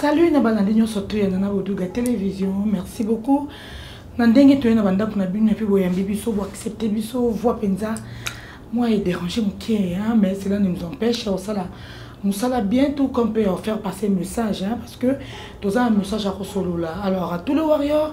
salut na balandi nyonso toyana na boduga télévision merci beaucoup na ndenge toye na bandako na bino epe boyambi biso boaccepte biso voi mpenza moi edérange moke mais cela ne nous empêche osala mosala bien tout comme mpe faire passer message hein, parce que toza na message ya kosolola alors à tous les warriors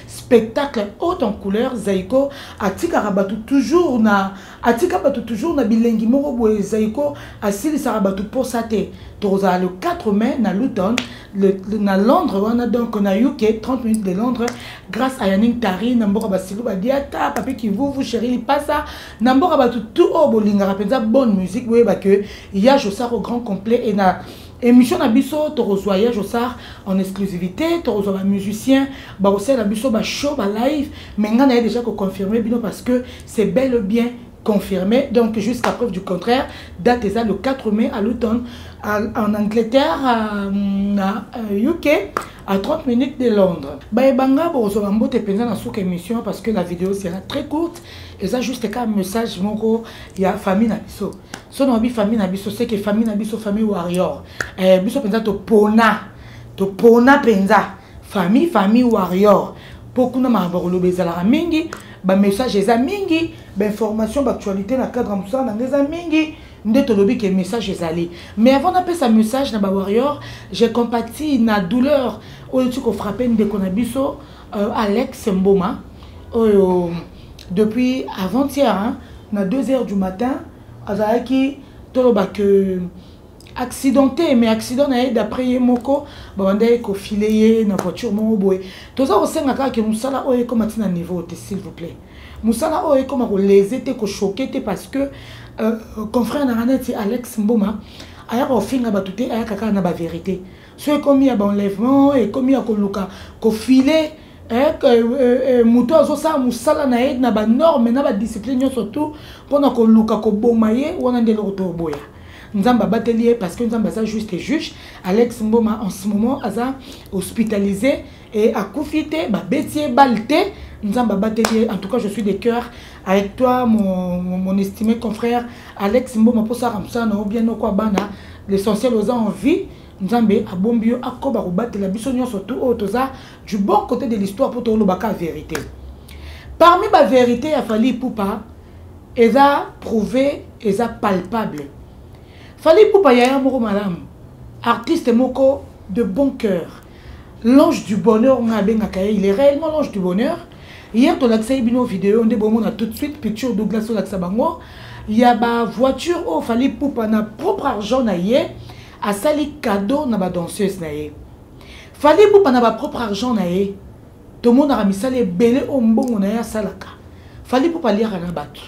spectacle haute en couleur zaiko atikaka bato toujours na atika bato toujours na bilengi moko boye zaiko asilisaka bato mposa te tokozala le 4 mai na luton le, le, na londres wana donc na uk 30 minutes de londres grâce à yaning tari na mboka basilu badiata papi kivuvu chéri lipasa na mboka bato tout oyo bolingaka mpenza bonne musique boyeba que ya josako grand complet et na Emission na biso tokozwa ya Josar en exclusivité, tokozwa ba musiciens, ba aussi na biso ba show ba live, mais nga na déjà ko confirmer bino parce que c'est bel et bien confirmé. Donc jusqu'à preuve du contraire, date est le 4 mai à l'automne en Angleterre, à, à UK. Euh, à 30 minutes de Londres. Baebanga bozwa mbote penza na suka émission parce que la vidéo sera très courte et ça juste un message moko ya famille na biso. so na oyebi famille na biso seke famille na biso famille warrior eh, biso mpenza topona topona mpenza famille famille warrior mpo kuna makambo ya koloba ezalaka mingi bamessage eza mingi bainformation baactualité na cadre ya mosala na ngai eza mingi nde tolobi ke message ezali mais avant napesa message na bawarrior je compati na douleur oyo ti kofrape ndeko na biso euh, alex mboma oyo oh, depuis avant hier hein, na 2 heures du matin azalaki toloba que accidenté mais accident na ye d'après ye moko babandaki kofile ye na voiture moko boye toza kosenga kaka ke mosala oyo ekoma ntina niveau te s'il vous plaît mosala oyo ekoma kolese te kochoke te parce que euh, confrère na nga neti alex mboma ayaka kofinga bato te ayaka kaka na bavérité so ekomi ya baenlèvement ekomi ya koluka kofile eh, eh, eh, moto azosala mosala na ye na banorme na badiscipline nyonso tu mpo na koluka koboma ye wana nde eloko toboya nzambe abateli ye parce que nzambe aza juste juge alex mboma en ce moment aza hospitalisé et akufi te babeti ye bale te nzambe abateli ye en tout cas je suis de cœur avec toi mon, mon, mon estimé confrère alex mboma mpo osaka mosala na yo bien oko abana l'essentiel oza en vie nzambe abombi yo akoba kobatela biso nyonso tu oyo toza du bon côté de l'histoire mpo tolobaka vérité parmi bavérité ya fali ipupa eza prouve eza palpable fali ipupa yaya moko malamu artiste moko de bon cœur l'ange du bonheur nga abengaka ye il est réellement l'ange du bonheur hier tolakisaki bino video nde bomona tout de suite picture douglas olakisa bango ya bavoiture oyo fali pupa na propre argent na ye asali cadeau na badanseuse na ye fali pupa na bapropre argent na ye tomonaka misala ebele oyo mbongo na ye asalaka fali pupa aliaka na bato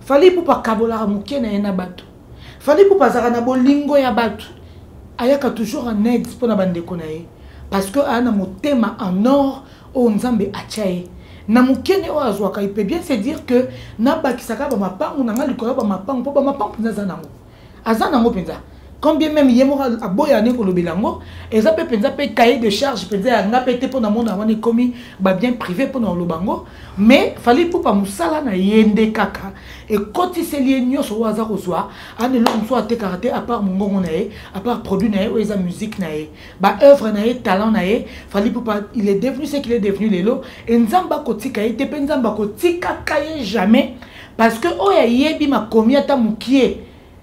fali pupa akabolaka moke na ye na bato Fally Ipupa azalaka na bolingo ya bato ayaka toujours en aide mpo na bandeko na ye parce que aya na motema en or oyo nzambe atya ye na mokene oyo azwaka ipe bien se dire que nabakisaka bamapangu na ngai likolo ya bamapangu mpo bamapangu mpenza aza nango aza nango mpenza quand bien même ye moko aboya ne kolobela yango eza mpe mpenza mpe cahier de charge mpenza ya nga mpe te mpo na mona wana ekomi babien privé mpo na koloba yango mais fali pupa mosala na ye nde kaka ekotiseli ye nyonso oyo aza kozwa ana eloko mosusu atekaka te apart mongongo na ye apart produit na ye oyo eza musique na ye baoeuvre na ye talent na ye fali pupa il est devenu ce qu'il est devenu lelo e nzambe akotika ye te mpe nzambe akotikaka ye jamais parce que oyo ayebi makomi ata mokie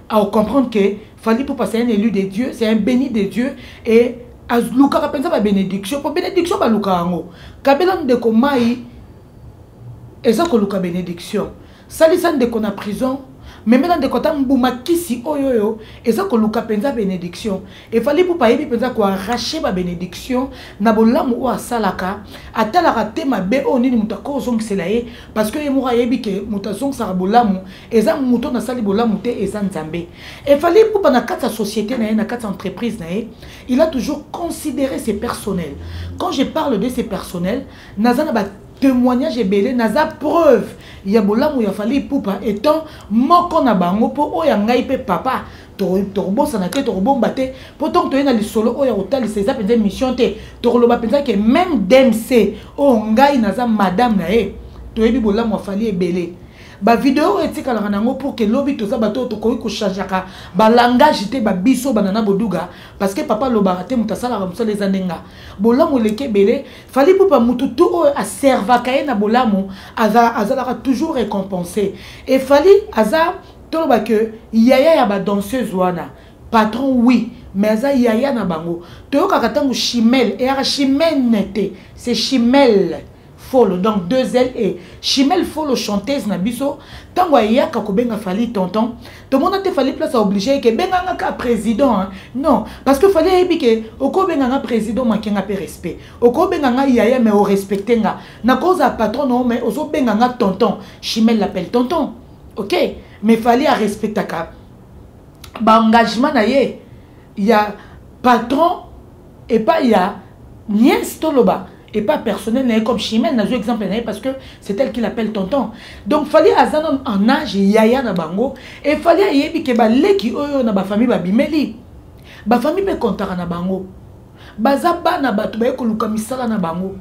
a o comprendre que Fally Poupa c'est un élu de Dieu c'est un béni de Dieu et alukaka mpenza ba bénédiction mpo bénédiction balukaka yango kabela ndeko mai eza koluka bénédiction salisa ndeko na prison memela ndeko ata mbuma kisi oyo oyo eza koluka mpenza bénédiction efali pupa ayebi mpenza koarrache babénédiction na bolamu oyo asalaka atalaka te mabe oyo nini moto akozongisela ye parce que ye moko ayebi ke moto azongisaka bolamu eza moto na sali bolamu te eza nzambe efali epupa na kati ya société na ye na kati ya entreprise na ye il a toujours considéré ses personnels quand je parle de ses personnels naza na ba témoignage ebele naza preuve ya bolamu ya fali epupa étant moko na bango mpo oyo ya ngai mpe papa tokobosana te tokobomba te mpo ntango toye na lisolo oyo ya kotalisa eza mpenza émission te tokoloba mpenza ke meme dmc oyo ngai naza madame na ye toyebi bolamu ya fali ebele ba video oyo etikalaka na yango pour que lobi toza bato oyo tokoki kochangeaka balangage te babiso bana na boduga parce que papa alobaka te moto asalaka mosala eza nde nga bolamu eleki ebele fali pupa motu tu oyo aservaka ye na bolamu azalaka toujours récompensé e fali aza toloba ke yaya ya badanseuse wana patron oui mais aza yaya na bango toyokaka ntango chimel eyaka chimene te c'est chimele Folo donc deux ailes et Chimel Folo chanteuse na biso tango ayaka kobenga Fally tonton tomona te Fally place obligé ke benga nga ka président hein? non parce que Fally ayebi ke oko benga nga président manque nga pe respect oko benga nga yaya mais o respecter nga na cause a patron no mais ozo benga nga tonton Chimel l'appelle tonton OK mais Fally a respectaka ba engagement na ye ya patron epai ya nièce toloba epa personnel na ye comme chimène nazwi exemple na ye parce que c'est elle qui l'appelle tonton donc fali aza nano en âge yaya na bango e fali ayebi ke baleki oyo na bafamille babimeli bafamille mpe kontaka na bango baza bana bato baye koluka misala na bango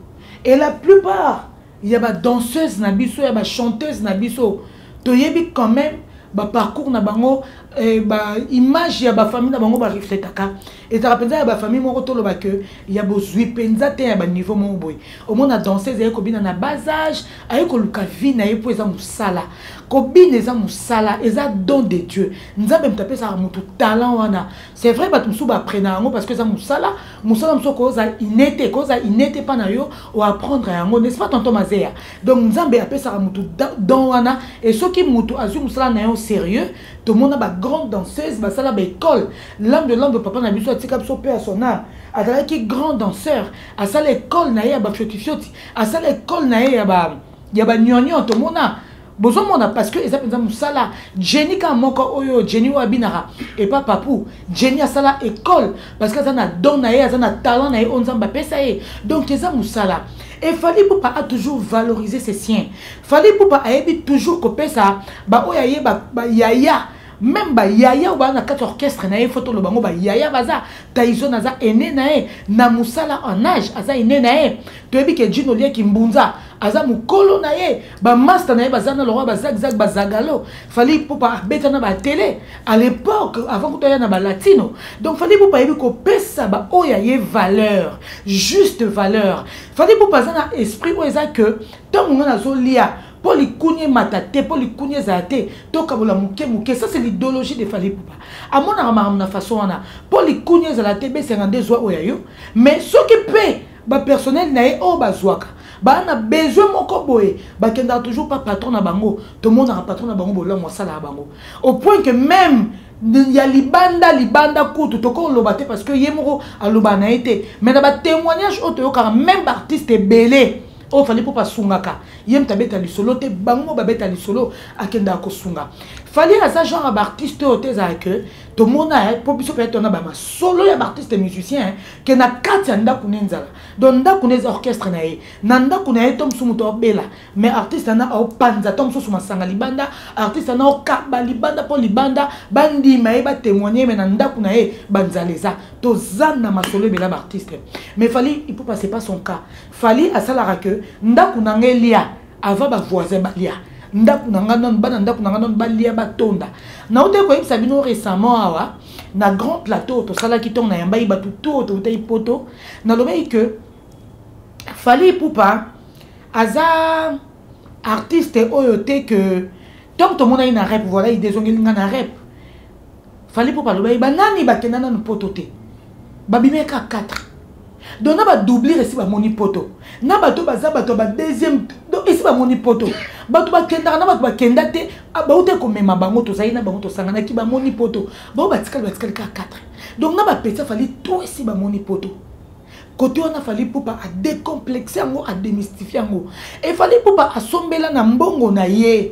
et la plupart ya ba danseuse na biso ya ba chanteuse na biso toyebi quand même ba parcours na bango eh, ba image ya ba famille na bango ba refletaka ezalaka mpenza ya ba famille moko toloba que ya bozwi mpenza te ya ba niveau moko boye omona danseuse aye kobina na bas âge aye koluka vie na ye mpo eza mosala kobina eza mosala eza don de dieu nzambe moto apesaka moto talent wana c'est vrai bato mosusu baaprena yango parce que eza mosala mosala mosusu okoza ine te ekoza ine te mpa na yo oapprendre yango n'est-ce pas tonton mazeya donc nzambe apesaka motu don wana e soki motu azwi mosala na yo sérieux tomona bagrande danseuse basala baekole lame de lame papa na biso atika biso mpe ya sonare azalaki grand danseur asala ekole na ye ya bafiotifioti asala ekole na ye ya ba ya banyonyon tomona bozomona parce que eza mpenza mosala jenny kaka moko oyo jenny oyo abinaka epa papu jenny asala école parce que aza na don na ye aza na talent na ye oyo nzambe apesa ye donc eza mosala et fali pupa a toujours valorisé ses siens fali pupa ayebi toujours kopesa baoyo aye bayaya ba, ba même bayaya oyo baa na kati orchestre na ye fo toloba yango bayaya baza taison aza ene na ye na mosala en age aza ene na ye toyebi ke jino lieki mbunza aza mokolo na ye Ba masta na ye baza na lokola ba zag zag ba zagalo. Fallait Ipupa abeta na ba télé à l'époque avant que toya na ba latino. Donc fallait Ipupa yebi ko pesa ba oya ye valeur, juste valeur. Fallait Ipupa za na esprit oyo eza que tant on a zo lia mpo likunia emata te mpo likunia ezala te tokabola moke moke ça c'est l'idéologie de fali pupa amonaka makambo na façon wana mpo likunia ezala te besenga nde zwa oyo ya yo mais soki mpe ba personnel na ye oyo bazwaka baa na besoin moko boye bakendaka toujours pa patron na bango tomonaka patron na bango bolamu asalaka bango au point que même ya libanda libanda kutu tokoloba te parce que ye moko alobaka na ye te mais na batémoignage oyo toyokaka même baartiste ebele oyo fali mpo basungaka ye moto abeta lisolo te bango babeta lisolo akendaka kosunga fali aza genre ya baartiste oyo te ezala ke tomona eh, mpo biso mpe tona bamasolo ya baartiste musicien eh, ke na kati ya ndako ne nzala donc ndako ne eza orchestre na ye na ndako na ye to mosusu moto aobela mais artiste ana aopanza to mosusu masanga libanda artiste ana okaba libanda mpo libanda bandima ye batemoigne me na ndako na ye banzala eza toza na masolo ebela baartiste mais fali ipupa c'est pas son cas fali asalaka ke ndako na ngai elia avant ba voisin balia ndako na ngai nano bana ndako na ngai nano balia batonda nautaki koyebisa bino récemment awa na grand plateau tosalaki ntongo nayambaki bato to toutaki poto nalobaki que fali ipupa aza artiste oyo te que ntango tomonaki na rep voilà idezongeli ngai na rep fali mpo baloba ye banani bakenda nanu poto te babimaki kaka 4 donc na badoublire esi bamoni poto na bato baza bato ya badeuxième donc esi bamoni poto bato bakendaka na bato bakenda te ah, bauta komema bango tozali na bango tosanganaki bamoni poto bango batikali batikali kaka 4 donc na bapeti afali to esi bamoni poto kote wana fali pupa adecomplexe yango ademystifie yango efali pupa asombela na mbongo na ye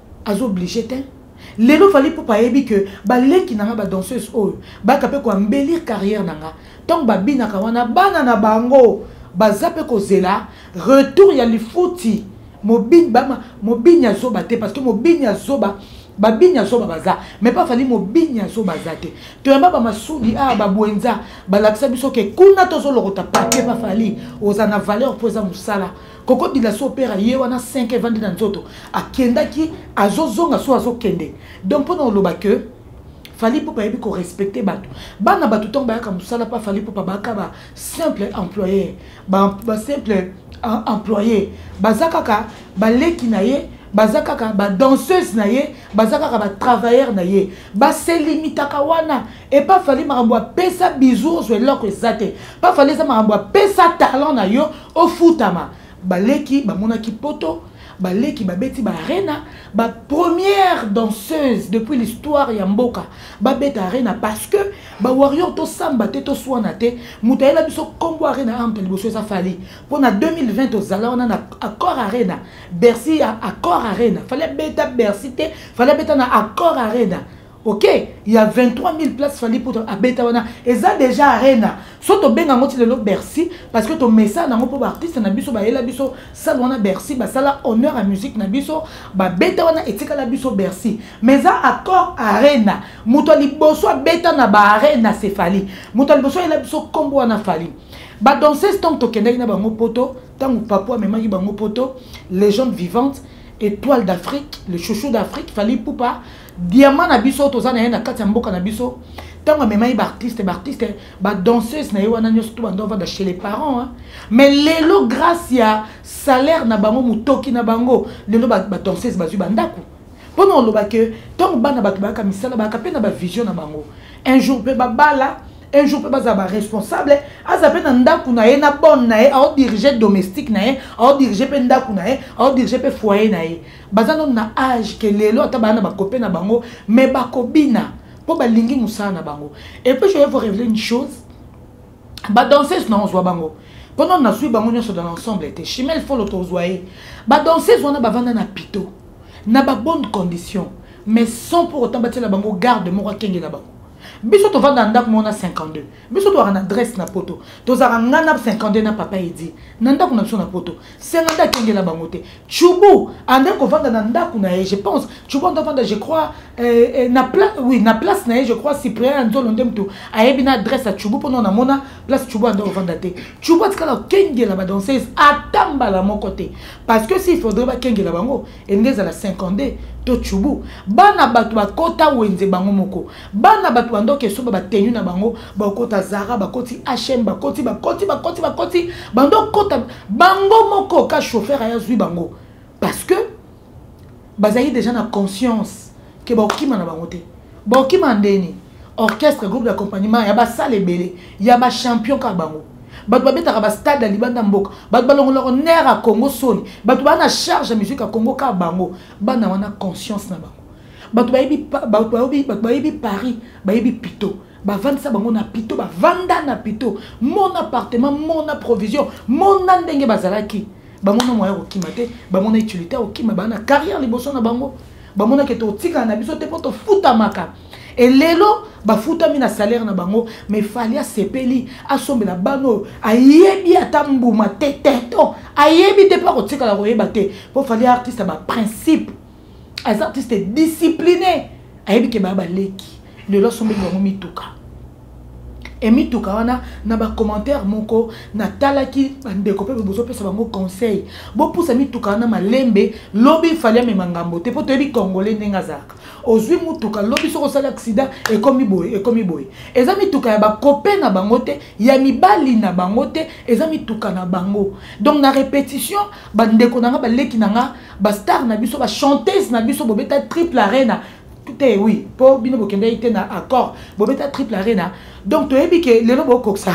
azo oblige te lelo fali pupa ayebi ke baleki na nga badanseuse oyo baka mpe koambelir carrière na nga ntango babinaka wana bana na bango baza mpe kozela retour ya lifuti mobini ya zoba te parce que mobini ya zoba babini ya zoba baza mais mpe afali mobini ya zoba aza te toyamba bamasudi awa ah, babwenza balakisa biso ke kuna tozolokota papie bafali oza na valeur mpo eza mosala koko dila so opera ye wana 5 evandi na nzoto akendaki azozonga so azokende donc mpona oloba ke fali pupa ayebi korespecte bato bana bato ntango bayaka mosala mpa fali pupa baka ba simple employeur basimple ba employeur baza kaka baleki na ye baza kaka badanseuse na ye baza kaka batravailleur na ye baselimitaka wana epa fali makambo apesa bizu ozwa eloko eza te pa fali eza makambo apesa talent na yo ofutama baleki bamonaki poto baleki babeti baarena bapremière danseuse depuis l'histoire ya mboka babeta arena parce que bawarrior tosamba te toswana te moto ayela biso nkombo arena amta liboso eza fali mpo na 2020 tozala wana na accord arena bercy ya accord arena fali abeta bercy te fali abeta na accord arena ok ya 23000 place fali mpo abeta wana eza déjà arena so tobenga yango ti lelo bercy parce que tomesana yango mpo baartiste na biso bayela biso sale wana bercy basala honneur ya musique na biso babeta wana etikala biso bercy mais eza accord arena moto ya liboso abeta na baarena se fali moto ya liboso ayela biso nkombo wana fali badanseuse ntango tokendaki na bango poto ntango papo amemaki bango poto légende vivante étoile d'afrique le chouchou d'afrique fali pupa diama na biso toza na ye na kati ya mboka na biso ntango amemaki baartiste baartiste badanseuse na ye wana nyonso to bando avanda chez les parents hein. mais lelo grâce ya salaire na bango motoki na bango lelo badanseuse ba bazwi bandako mpo na oloba ke ntango bana bato bayaka misala bayaka mpe na bavision na bango un jour mpe babala un jour mpe bazala baresponsable aza mpe na ndako na ye na bone na ye aodirige domestique na ye aodirige mpe ndako na ye aodirige mpe foyer na ye baza nanu na age ke lelo ata baya na bakope na bango me bakobina mpo balingi mosala na bango epuis je vais vous révéler une chose badanseuse na ozwa bango mpo nanu nazwi bango nyonso dans l'ensemble te chimel folo tozwa ye badanseuse wana bavanda na pito na babonne condition mais sans pour autant batiela bango garde moko akengela bango biso tovanda na ndako moko na 52 biso tozalaka na adresse na poto tozalaka ngai na 52 na papa edi na ndako na biso na poto senga nde akengela bango te chubu andaki kovanda na ndako na ye je pense chubu ando avanda je crois euh, euh, na place oui na place na ye je crois cyprien ya nzolo nde motu ayebi na adresse ya chubu mpona namona place chubu ando kovanda te chubu atikala kokengela badanseuse ata mbala moko te parce que s'il faudrait bakengela bango elingi ezala 52 to chubu bana bato bakota wenze bango moko bana bato bandoki esoba batenu na bango bakota zara bakoti hm bakoti bakoti bakoti bakoti bandokota bango moko ka chauffeur aya zwi bango parce que bazali déjà na conscience ke bakokima na bango te bakokima ndeni orchestre groupe d'accompagnement ya basala ebele ya bachampion kaka bango bato babetaka bastade ya libanda ya mboka bato balongolaka nere ya congo soni bato baa na charge ya musique ya congo kaka bango bana wana conscience na bango bato bayebi bato bayebi paris bayebi pito bavandisa bango na pito bavanda na pito mon appartement mon provision mona ndenge bazalaki bamona moya kokima te bamona utilité ya kokima baa na carrière liboso na bango bamonaki ete otikala na biso te mpo tofutamaka e lelo bafutami na salaire na bango mais fali asepeli asombela bana oyo ayebi ata mbuma te teto ayebi te mpo akotikala koyeba te mpo fali artiste ya baprincipe aza artiste discipline ayebi ke baya baleki lelo asombeli bango mituka emituka wana na bacommentaire moko natalaki bandeko mpe bozopesa bango conseil bopusa mituka wana malembe lobi fali amema ngambo te mpo toyebi congolais ndenge azalaka ozwi motuka lobi soki osali aksida ekomi boye ekomi boye eza mituka ya bakope na bango te ya mibali na bango te eza mituka na bango donc na repetition bandeko na nga baleki na nga ba star na biso ba chanteuse na biso bobeta triple arena te oui mpo bino bokendaki te na accord bobeta triple arena donc toyebi ke lelo bokokisa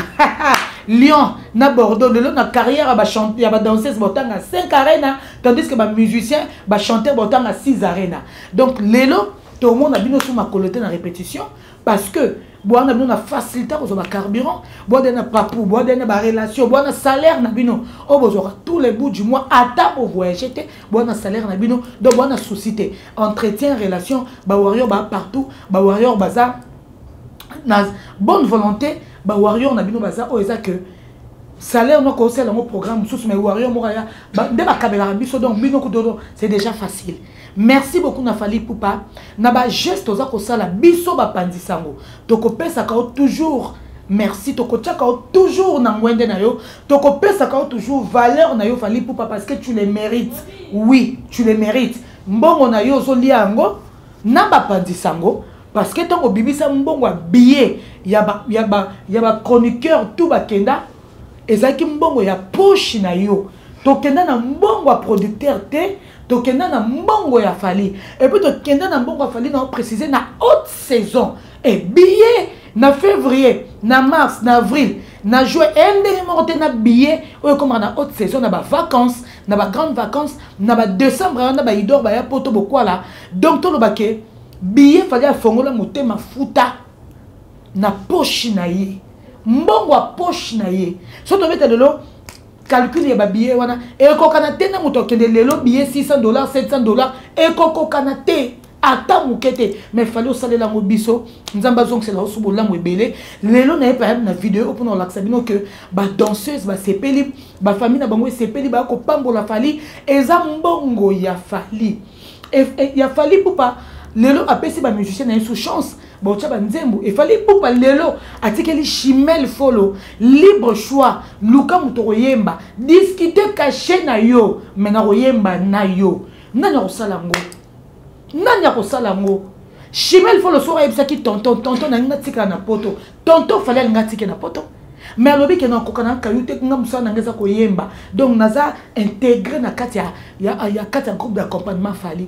lyon na bordeaux lelo na carrière ya badanseuse botanga 5 arena tandis que bamusicien bachanteur botanga 6 arena donc lelo tomona bino so makolo te na répétition parce que boanda bino na facilité kozwa bacarburant boanda na papu boanda na barelation boanda salaire na bino oyo bozwaka tous les bout du mois ata bovoyage te boanda salaire na bino donc boanda souci te entretien relation bawarrior ba partout bawarrior baza na bonne volonté bawarrior na bino baza oyo eza que salaire moko osala yango programme mosusu mais warrior moko aya nde bakabelaka biso donc bino kutoto c'est déjà facile Merci beaucoup na Fally Ipupa na ba geste oza kosala biso bapanzi sango tokopesaka yo toujours merci tokotiaka yo toujours na ngwende na yo tokopesaka yo toujours valeur na yo Fally Ipupa parce que tu le mérites oui tu le mérites mbongo na yo ozolia yango na bapanzi sango parce que ntango obimisa mbongo ya billet ya ba, ya ba, ya ba chroniqueur tout bakenda ezalaki mbongo ya poche na yo tokenda na mbongo ya producteur te tokenda na mbongo ya fali epuis tokenda na mbongo ya fali na précise na haute saison ebiye na février na mars na avril na joue eye ndenge moko te na billet oyo ekomaka na haute saison na bavacance na bagrande vacance na badecembre wana baidor baya poto bokwala donc toloba ke billet fali afongola motema futa na poche na ye mbongo ya poche na ye so tobeta lelo calcul ya babillet wana ekokana te na moto akende lelo billet 600 dollars 700 dollars ekokokana te ata moke te mais fali osalela yango biso nzambe azongisela oso bolamu ebele lelo naye payam na video oyo mpona kolakisa bino ke badanseuse basepeli bafamille na bango esepeli baya kopambola fali eza mbongo ya fali e, e, ya fali pupa lelo apesi bamusicien na ye sous chance baotya banzembo efali ipupa lelo atikeli chimel folo libre choix luka moto okoyemba diskite kashe na yo me nakoyemba na yo nani akosala yango nani akosala yango chimel folo soki ayebisaki tonton tonton nalingi natikala na poto tonton fali alingi atike na poto me alobi ke nakoka na kayu te nga mosala nanga eza koyemba donc naza integre na kati ya, ya, ya, kati ya groupe d'accompagnement fali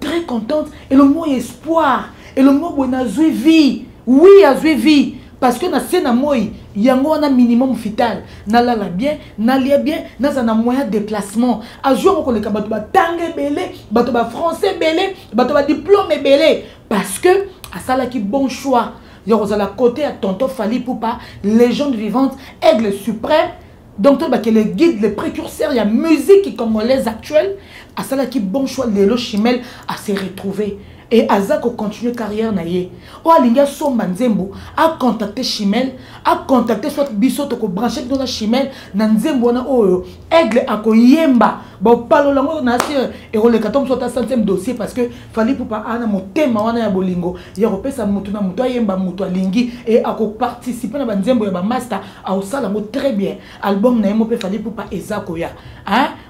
très contente elongo ya espoir elongo boye nazwi vie oui azwi vie parce que na se na moi yango wana minimum vital nalala bien nalia bien naza na moyen déplacement azwi yango koleka bato batanga ebele bato bafrançais ebele bato badiplome ebele parce que asalaki bon choix ya kozala kote ya tonton fali pupa légende vivante aigle suprême donc toyeba ke le guide le précurseur ya musique congolaise actuelle asalaki bon choix lelo chimel ase retrouver e aza kocontinue carrière na ye oyo alingi asomba nzembo acontacte chimel acontacte soit biso tokobranche bino na chimel na nzembo wana oyo aigle akoyemba bopalola yango na se ekoleka to mosu ata centième dossier parce que fali pupa ana motema wana ya bolingo ya kopesa motu na motu ayemba motu alingi e akoparticipe na banzembo ya bamasta aosala yango très bien album na ye moko mpe fali pupa eza koya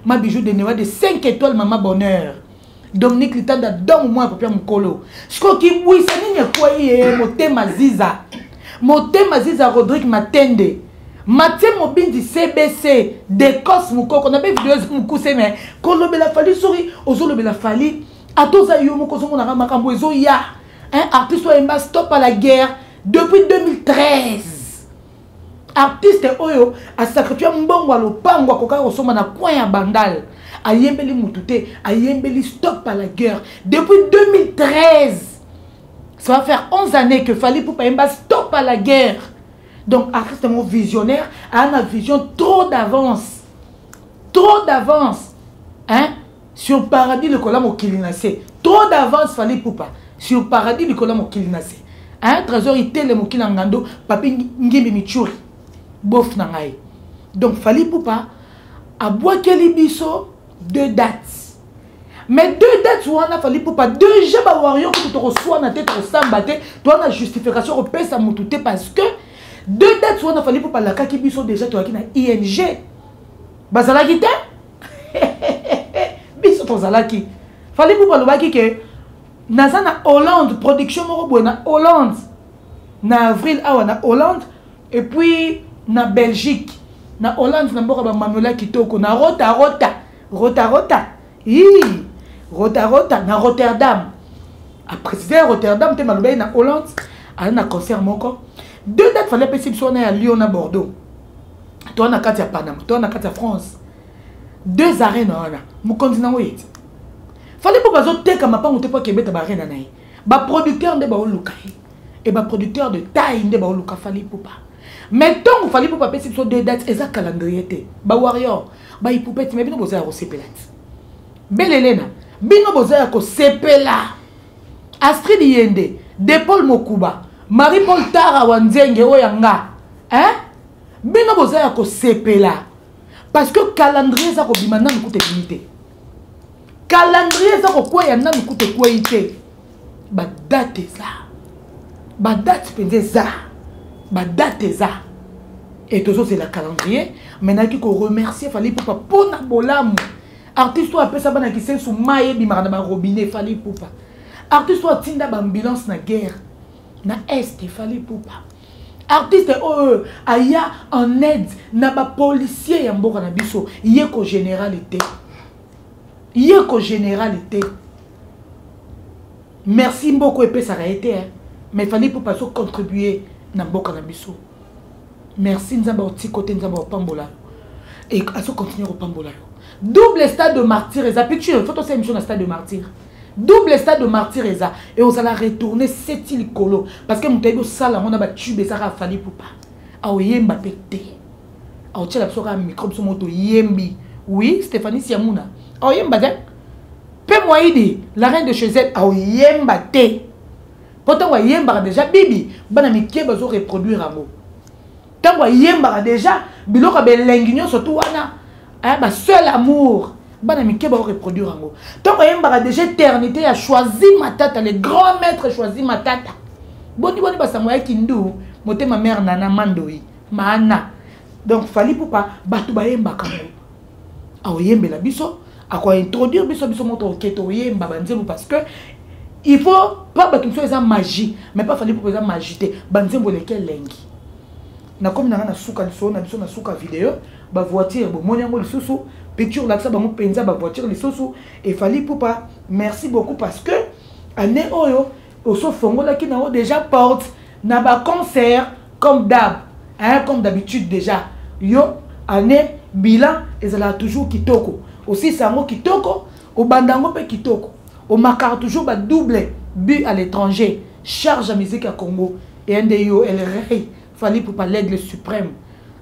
ma bijou de newa de 5 étoile mama bonheur dominique litanda domo mwana papia mokolo sikoyo kibwisa nini ekwei ye motema ziza motema ziza rodrik matende matie mobindi cbc decos mokoko na mpe video eza mokuse me kolobela fali soki ozolobela fali ata oza yo moko ozomonaka makambo ezoya artiste oyemba stop à la guerre depuis 2013 artiste oyo asacrifie mbongo ya lopango akokaki kosomba na coin ya bandal ayembeli motu te ayembeli stop à la guerre depuis 2013 ça va faire 11 années que fali poupa ayemba stop à la guerre donc artiste yango visionnaire aa na vision trop d'avance trop d'avance hein sur paradis likola mokili na se trop d'avance fali pupa sur paradis likola mokili na se hein trésor itele mokili na ngando papi ngimbi michuri bof na ngai donc fali pupa abwakeli biso deux dates mais deux dates wana fali pupa déjà bawario kutu tokoswana te tokosamba te towana justification kopesa motu te parce que deux dates wana fali pupa alakaki biso déjà toyaki na ing bazalaki te biso tozalaki fali bubu alobaki ke naza na hollande production moko boye na hollande na avril awa na hollande et puis na belgique na hollande na mboka bamanola kitoko na rota rota rota rota ii rota rota na rotterdam aprécise ya rotterdam mpe malobaki na hollande aza na concert moko deux date fali apesi biso wana ya lyon na bordeaux toa na kati ya panama toa na kati ya france deux arena wana mokonzi nango yeti fali mpo bazoteka mapango te mpo akebeta baarena na ye baproducteur nde baoluka ye e baproducteur de taille nde baoluka fali pupa mais ntongo fali pupa apesi biso deux dates eza calendrier te bawarrior baipupeti me bino boza ya kosepela ti belelena bino boza ya kosepela astrid yende de paul mokuba marie paul tara wa nzenge oyo ya nga hein? bino boza ya kosepela parce que calendrier eza kobima nanu kuta ebimi te calendrier eza kokweya nanu kuta ekweyi te badate eza badate mpenza eza badate eza e tozozela calendrier mai nayaki koremercie fali pupa mpo na bolamu artiste oyo apesa bana kisensu mai ebimaka na barobinet fali pupa artiste oyo atinda baambulance na guerre na est fali pupa artiste oyo aya en aide na bapolicier ya mboka na biso ye ko générale te ye ko générale te merci mboko epesaka ye te mais fali pupa azo contribue na mboka na biso merci nzambe otiko te nzambe opambola azo continue kopambola yo double stade de martyr eza pitu fo tosala émission na stade de martyr double stade de martyr eza et ozala retourne seti likolo parce que moto ayebi osala yango na batube ezaka afali pupa aoyemba mpe te aotyela biso kaka micro biso moto yembi oui stéphanie siamuna aoyemba te mpe moyidi la reine de chez elle aoyemba te mpo ntango ayembaka déjà bibi bana mike bazo reproduire yango ntango ayembaka deja biloko ya belengi nyonso tu wana eh, ba seul amour bana mike bao reproduire yango ntango ayembaka deja éternité ya choisi matata le grand maître choisi matata boni boni basango ya kindu motema mare nana mandoi maana donc fali pupa bato bayembaka yango akoyembela biso akointroduire biso biso moto oke toyemba banzembo parce que il faut pa bato mosusu eza magie mais pa fali mpo eza magie te banzembo eleki elengi nakomi nanga na suka lisolo na biso na suka video bavoiture bomoni yango lisusu picture olakisa bango mpenza bavoiture lisusu efali pupa merci beaucoup parce que année oyo oso fongolaki na yo deja porte na ba concert comme d'hab hein comme d'habitude deja yo année bilan ezalaka toujours kitoko osilisa yango kitoko obanda yango mpe kitoko omakaka toujours ba double but à l'étranger charge ya musique ya congo eye nde yo el rey fali pupa l'aigle suprême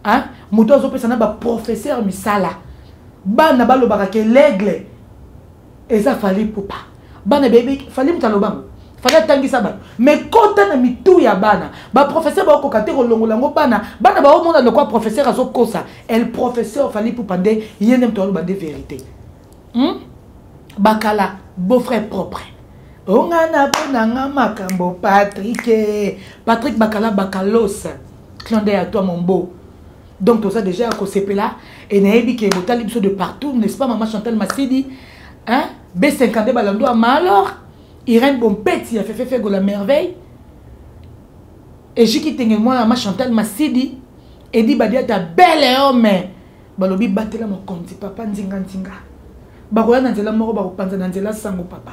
hein moto azopesa na baprofesseur misala bana balobaka ke l'aigle eza fali ipupa bana beyebi fali moto alobango fali atangisa bato mais kota na mitu ya bana baprofesseur baokoka te kolongola yango bana bana baomona lokwa professeur azokosa el professeur fali ipupa nde ye nde moto aloba nde verité hmm? bakala beau-frère propre onga na mpo na nga makambo patrike patrick bakala bakalosa clonde ya toi mon beau donc toza dejà ya kosepela e nayebi ke botali biso de partout n'est-ce pas mama chantal masidi hein? b52 balando ya malor irène bompeti ya fefefego la merveille ejiki tenge mwana ma chantal masidi edi badiata bele homme balobi batela mokonzi papa nzinganzinga bakoya na nzela moko bakopanza na nzela sango papa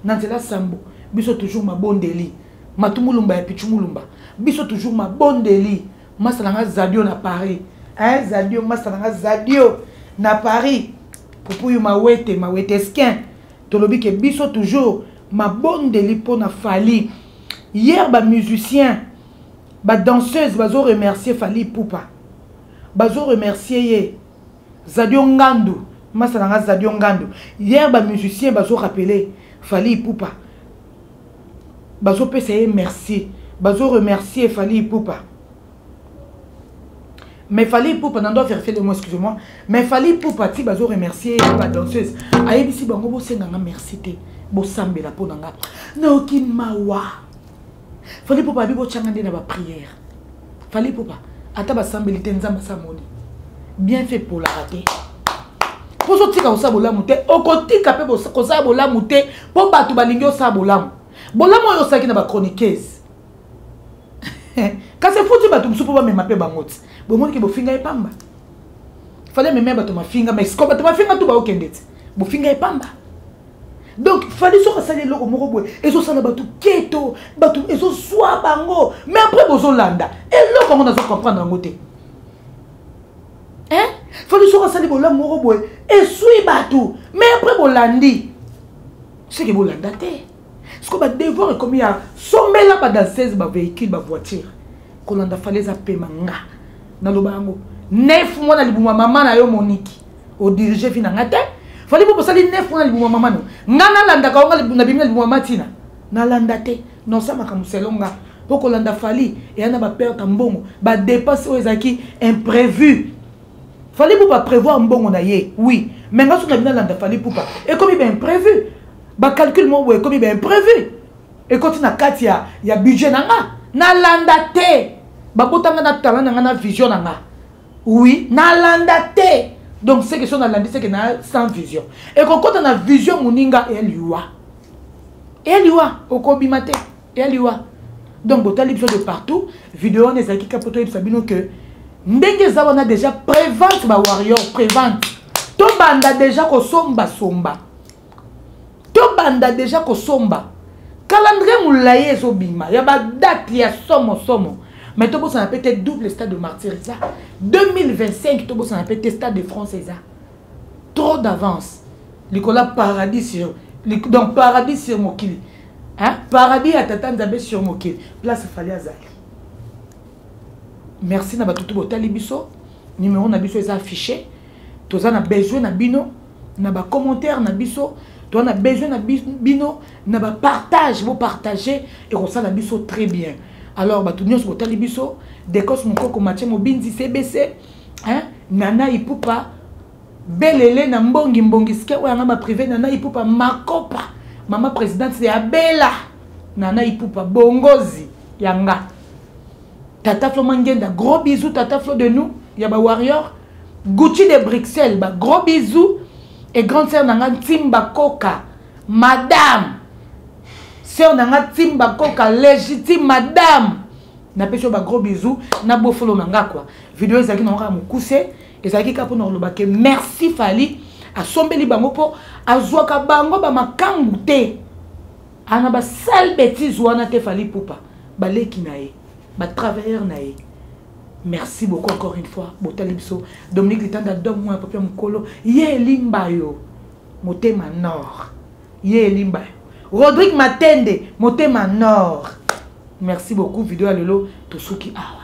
na nzela sambo biso toujours mabondeli matumulumba ya pichumulumba biso toujours mabondeli masta na nga zadio na paris eh, zadio masta na nga zadio na paris pupuyu mawete mawete eskin tolobi ke biso toujours mabondeli mpo na fali hier bamusicien badanseuse bazo remercier fali pupa bazo remercier ye zadio ngandu masa na nga zadio ngandu hier bamusicien bazo rappele fali pupa bazopesa ye merci bazo remercier fali ipupa mais fali ipupa nando averifie le mot excuse moi mais fali ipupa ti bazo remercier ye ba danseuse ayebisi bango bosenga nga merci te bosambela mpo na nga nayoki mawa fali ipupa abi botyanga nde na bapriere fali popa ata basambeli te nzambe asamoni bien fait polaka te mpo ozotika kosala bolamu te okotika mpe kosala bolamu te mpo bato balingi osala bolamu bolamu oyo osalaki na bachroniqueuse kasi efuti bato mosusu mpo bamema mpe bango ti bomonike bofinga ye pamba fale amema bato mafinga mais siko bato mafinga tu baokende ti bofinga ye pamba donc fali soki asali eloko moko boye ezosala bato keto bato ezoswa bango mais après bozolanda eloko yango nazo comprendre yango te hein fali soki asali bolamu moko boye eswi bato mais après bolandi seke bolanda te siko badevoir ekomi ya sombela badansese bavéhicule bavoiture kolanda fali eza pema nga naloba yango nef mwana libuma mama na yo moniki o dirige vie na nga te fali po bosali nef wana libuma mama no nga nalandaka onga na bimi na libuma matina nalanda te nosa makambo selo nga mpo kolanda fali eya na baperte ya mbongo badepense oyo ezalaki imprévu fali pupa prévoir mbongo na ye oui mais nga soki na bino alanda fali pupa ekomi baimprévu bacalcule moko boye ekomi baimprévu ekoti na kati ya, ya budget na nga nalanda te babotanga na talent na nga na vision na nga oui nalanda te donc seke so nalandi seke na sans vision ekokota na vision moninga ya liwa ya liwa okobima te ya liwa donc botali biso de partout video wana ezalaki kaka mpo toyebisa bino ke ndenge eza wana déjà prévente bawarrior prévente tobanda déjà kosombasomba tobanda deja kosomba calendrier molayi ezobima ya badate ya somo somo mais tobosana mpe te double stade de martyr eza 2025 tobosana mpe te stade de france eza trop d'avance likolo ya paradis sur donc paradis sur mokili hein? paradis ya tata nzambe sur mokili place fali azali merci na bato tu botali biso numero na biso eza affiché toza na besoin na bino na ba commentaire na biso toa na besoin na bino na ba partage bo partage ekosala biso très bien alors bato nyonso botali biso decos mokoko matie mobinzi cbc hein? nana ipupa belele na mbongi mbongi sike oyo yanga baprive nana ipupa makopa mama présidente ya bela nana ipupa bongozi yanga tata flo mangenda gros bisous tata flo de nous ya ba warrior gucci de bruxelles ba gros bisous et grande sœur na nga ntimba koka madame sœur na nga ntimba koka légitime madame napesi yo bagros bisous na bofolo na nga kua video ezalaki na kaka mokuse ezalaki kaka mpona koloba ke merci fali asombeli bango mpo azwaka bango bamakangu te ana ba sale betise wana te fali pupa baleki na ye batravailleur na ye merci beaucoup encore une fois botali biso dominique litanda dom mwana papia mokolo ye elimba yo motema nord ye elimba yo rodrigue matende motema nord merci beaucoup video ya lelo tosuki awa